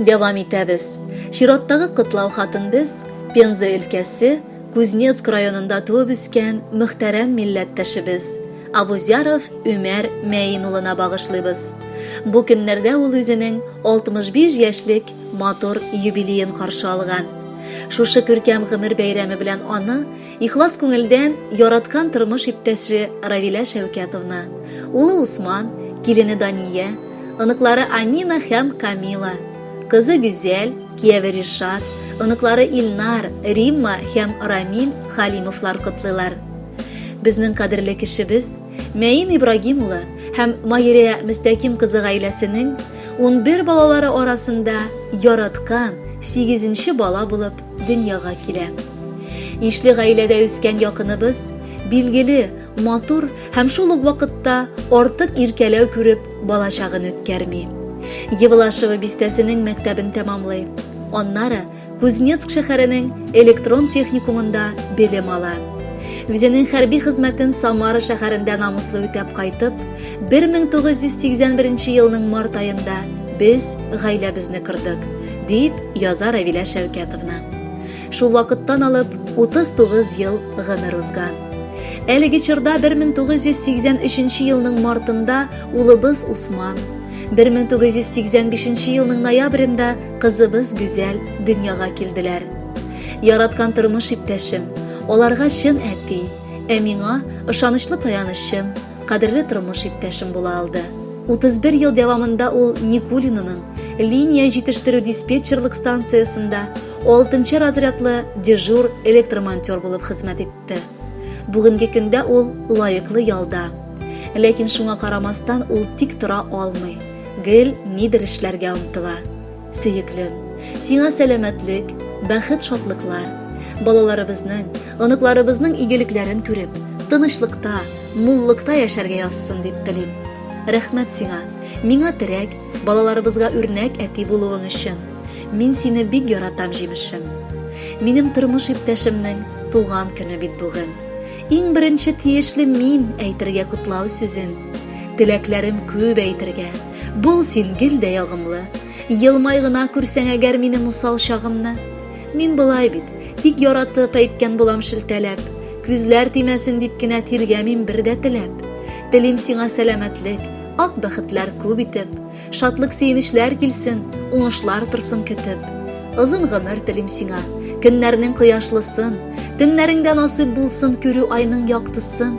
Дәвам итәбез. Чираттагы котлау хатын без Пенза өлкәсе Кузнецк районында туып үскән мөхтәрәм милләттәшебез Абузяров Өмәр Мәин улына багышлыйбыз. Бу көннәрдә ул үзенең 65 яшьлек матур юбилеен каршы алган. Шушы күркәм гомер бәйрәме белән аны Ихлас күңелдән яраткан тормыш иптәше Равилә Шәүкәтовна, улы Усман, килене Дания, оныклары Амина һәм Камила, кызы Гүзәл, кияве Ришат, оныклары Илнар, Римма һәм Рамил Халимовлар котлыйлар. Безнең кадерле кешебез Мәин Ибрагим улы һәм Майрия Мөстәким кызы гаиләсенең 11 балалары арасында яраткан 8 нче бала булып дөньяга килә. Ишле гаиләдә үскән якыныбыз, билгеле, матур һәм шул ук вакытта артык иркәләү күреп, балачагын үткәрми. Евлашево бистәсенең мәктәбен тәмамлый. Аннары Кузнецк шәһәренең электрон техникумында белем ала. Үзенең хәрби хезмәтен Самара шәһәрендә намуслы үтәп кайтып, 1981 елның март аенда без гаиләбезне кырдык, дип яза Равилә Шәүкәтовна. Шул вакыттан алып 39 ел гомер узган. Әлеге чорда 1983 елның мартында улыбыз Усман, 1985 елның ноябрендә кызыбыз Гүзәл дөньяга килделәр. Яраткан тормыш иптәшем, аларга чын әти, ә миңа ышанычлы таянычым, кадерле тормыш иптәшем була алды. 31 ел дәвамында ул Никулинаның линия җитештерү диспетчерлык станциясендә 6 разрядлы дежур электромонтер булып хезмәт итте. Бүгенге көндә ул лаеклы ялда. Ләкин шуңа карамастан ул тик тора алмый. Гел нидер эшләргә омтыла. Сөеклем, сиңа сәламәтлек, бәхет-шатлыклар, балаларыбызның, оныкларыбызның игелекләрен күреп, тынычлыкта, муллыкта яшәргә язсын дип телим. Рәхмәт сиңа, миңа терәк, балаларыбызга үрнәк әти булуың өчен. Мин сине бик яратам, җимешем. Минем тормыш иптәшемнең туган көне бит бүген. Иң беренче тиешле мин әйтергә котлау сүзен. Теләкләрем күп әйтергә. Бул син гел дә ягымлы, Елмай гына күрсәң әгәр минем усал чагымны. Мин былай бит, тик яратып әйткән булам шелтәләп, Күзләр тимәсен дип кенә тиргәмим бер дә теләп. Телим сиңа сәламәтлек, ак бәхетләр күп итеп, Шатлык сөенечләр килсен, уңышлар торсын көтеп. Озын гомер телим сиңа, көннәрнең кояшлысын, Төннәреңдә насыйп булсын күрү айның яктысын.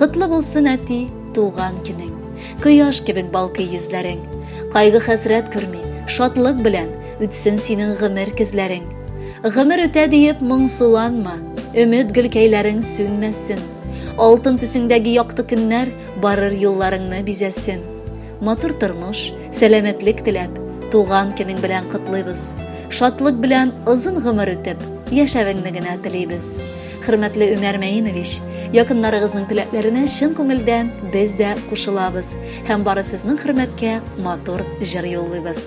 Котлы булсын әти, туган көнең. Кояш кебек балкый йөзләрең. Кайгы хәсрәт күрми, шатлык белән үтсен синең гомер көзләрең. Гомер үтә диеп моңсуланма, өмет гөлкәйләрең сүнмәсен. Алтын төсеңдәге якты көннәр барыр юлларыңны бизәсен. Матур тормыш, сәламәтлек теләп, туган көнең белән котлыйбыз. Шатлык белән озын гомер үтеп, яшәвеңне генә телибез. Хөрмәтле Өмәр Мәинович, якыннарыгызның теләкләренә чын күңелдән без дә кушылабыз һәм бары сезнең хөрмәткә матур җыр юллыйбыз.